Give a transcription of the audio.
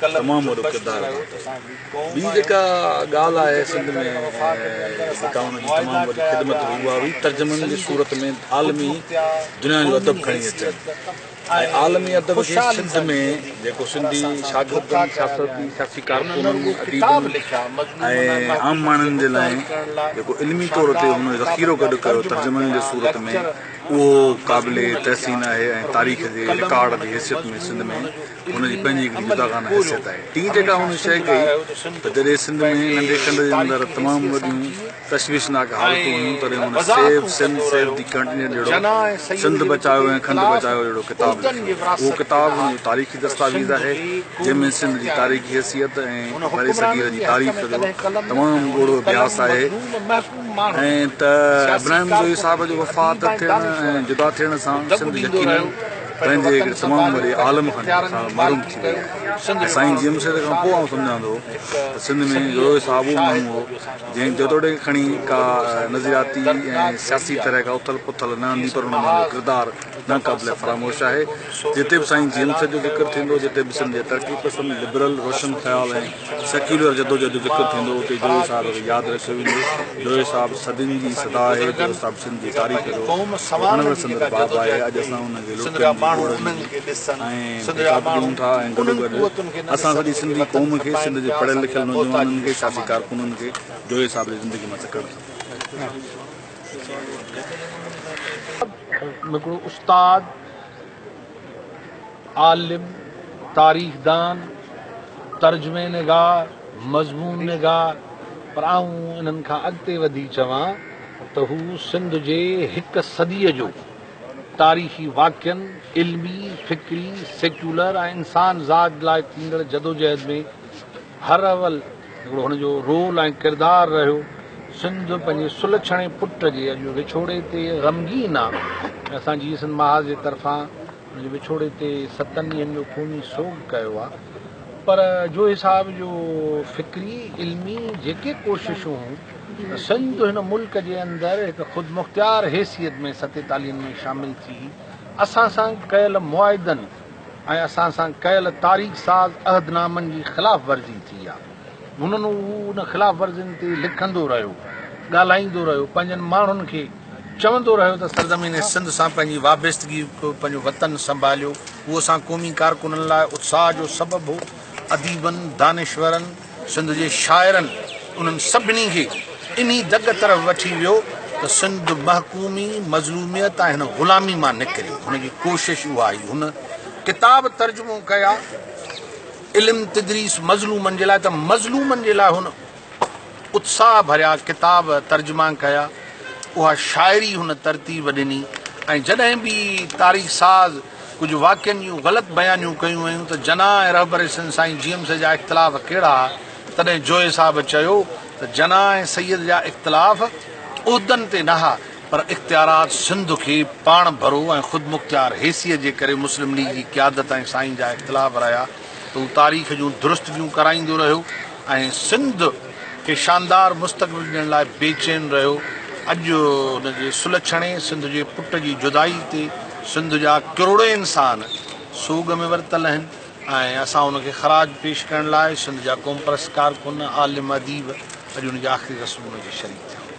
تمام وڏو ڪردار ادا ڪيو ٻي جيڪا ڳالھ آهي سنڌ ۾ جيڪا انهن جي تمام وڏي خدمت هئي اها هئي ترجمن جي صورت ۾ عالمي دنيا جو ادب کڻي اچڻ ۽ عالمي ادب کي سنڌ ۾ جيڪو سنڌي شاگردن سياسي سياسي ڪارڪنن اديبن ۽ عام ماڻهن جي لاء جيڪو علمي طور تي هن ذخيرو گڏ ڪيو ترجمن جي صورت ۾ اهو قابل تحسين آهي ۽ تاريخ جي رڪارڊ جي حيثيت ۾ سنڌ ۾ هن جي پنهنجي هڪڙي جداگانه حيثيت آهي. ٽين جيڪا هن شيء ڪئي ته جڏهن سنڌ ۾ ننڍي کنڊ جي اندر تمام وڏيون تشويشناڪ حالتون هيون تڏهن هن save Sindh save the container جهڙو سنڌ بچايو ۽ کنڊ بچايو جهڙو ڪتاب لکيو. اهو ڪتاب هن جو تاريخي دستاويز آهي جنهن ۾ سنڌ جي تاريخي حيثيت ۽ برصغير جي تاريخ جو تمام ڳوڙهو اڀياس آهي ۽ ته ابراهيم جويي صاحب جو وفات ٿيڻ ۽ جدا ٿيڻ سان سنڌ يقينن پنهنجي هڪ تمام وڏي عالم کان ساڻس محروم ٿي وئي آهي ۽ سائين جي ايم سيد کان پوء آئون سمجهان ٿو ته سنڌ ۾ روهي صاحب اهو ماڻهو هو جنهن جيتوڻيڪ کڻي ڪا نظرياتي ۽ سياسي طرح کان اٿل پٿل نه آندي پر ان مان اهو ڪردار ناقابل فراموش آهي جتي به سائين جي ايم سيد جو ذڪر ٿيندو جتي به سنڌ جي ترقي پسند لبرل روشن خيال ۽ سيڪيولر جدوجهد جو ذڪر ٿيندو اتي جويي صاحب کي ياد رکيو ويندو. جويي صاحب صدين جي صدا آهي جيڪو صاحب سنڌ جي تاريخ جو وڻندڙ سندر باب آهي اڄ اسان ان کي لوٽيندي ٻوڙ ۾ ۽ ڌڪاڌڪ ڏيون ٿا ۽ گڏوگڏ اسان سڄي سنڌي قوم کي سنڌ جي پڙهيل لکيل نوجوانن کي سياسي ڪارڪنن کي جويي صاحب جي زندگي مان سکڻ کپي. هڪڙو استاد. عالم، تاريخدان، ترجمه نگار، مضمون نگار پر آئون انهن کان اڳتي وڌي چوان ته هو سنڌ جي هڪ صديء جو تاريخي واقعن، علمي، فڪري، سيڪيولر ۽ انسان ذات لاء ٿيندڙ جدوجهد ۾ هر اول هڪڙو هن جو رول ۽ ڪردار رهيو. سنڌ پنهنجي سلڇڻي پٽ جي اڄ وڇوڙي تي غمگين آ ۽ اسان جيئي سنڌ محاذ جي طرفان هن جي وڇوڙي تي ستن ڏينهن جو خوني سوڳ ڪيو آ پر جوهي صاحب جو فڪري علمي جيڪي ڪوششون هون ته سنڌ هن ملڪ جي اندر هڪ خودمختيار حيثيت ۾ ستيتاليهن ۾ شامل ٿي اسان سان ڪيل معاهدن ۽ اسان سان ڪيل تاريخ ساز عهد نامن جي خلاف ورزي ٿي آ هنن هو ان خلاف ورزين تي لکندو رهيو ڳالهائيندو رهيو پنهنجن ماڻهن کي چوندو رهيو ته سرزمين سنڌ سان پنهنجي وابستگي ڪيو پنهنجو وطن سنڀاليو هو اسان قومي ڪارڪنن لاء اتساهه جو سبب هو اديبن دانشورن سنڌ جي شاعرن انهن سڀني کي انهي دڳ طرف وٺي ويو ته سنڌ محڪومي، مظلوميت ۽ هن غلامي مان نڪري. هن جي ڪوشش اها هئي. هن ڪتاب ترجمو ڪيا، علم تدريس مظلومن جي لاء ته مظلومن جي لاء هن اتساهه ڀريا ڪتاب ترجما ڪيا. اها شاعري هن ترتيب ڏني ۽ جڏهن به تاريخ ساز، ڪجهه واقعن جون غلط بيانيون ڪيون ويون ته جناح ۽ رهبر سنڌ سائين جي ايم سيد جا اختلاف ڪهڙا ها تڏهن جويي صاحب چيو ته جناح ۽ سيد جا اختلاف عهدن تي نه ها پر اختيارات سنڌ کي پاڻ ڀرو ۽ خودمختيار حيثيت جي ڪري مسلم ليگ جي قيادت ۽ سائين جا اختلاف رهيا ته هو تاريخ جون درستگيون ڪرائيندو رهيو ۽ سنڌ کي شاندار مستقبل ڏيڻ لاء بي چين رهيو، اڄ ان جي سلڇڻي سنڌ جي پٽ جي جدائي تي سنڌ جا ڪروڙين انسان سوڳ ۾ ورتل آهن ۽ اسان ان کي خراج پيش ڪرڻ لاء سنڌ جا قومپرست ڪارڪن، عالم، اديب اڄ ان جي آخري رسم ۾ اچي شريڪ ٿيا.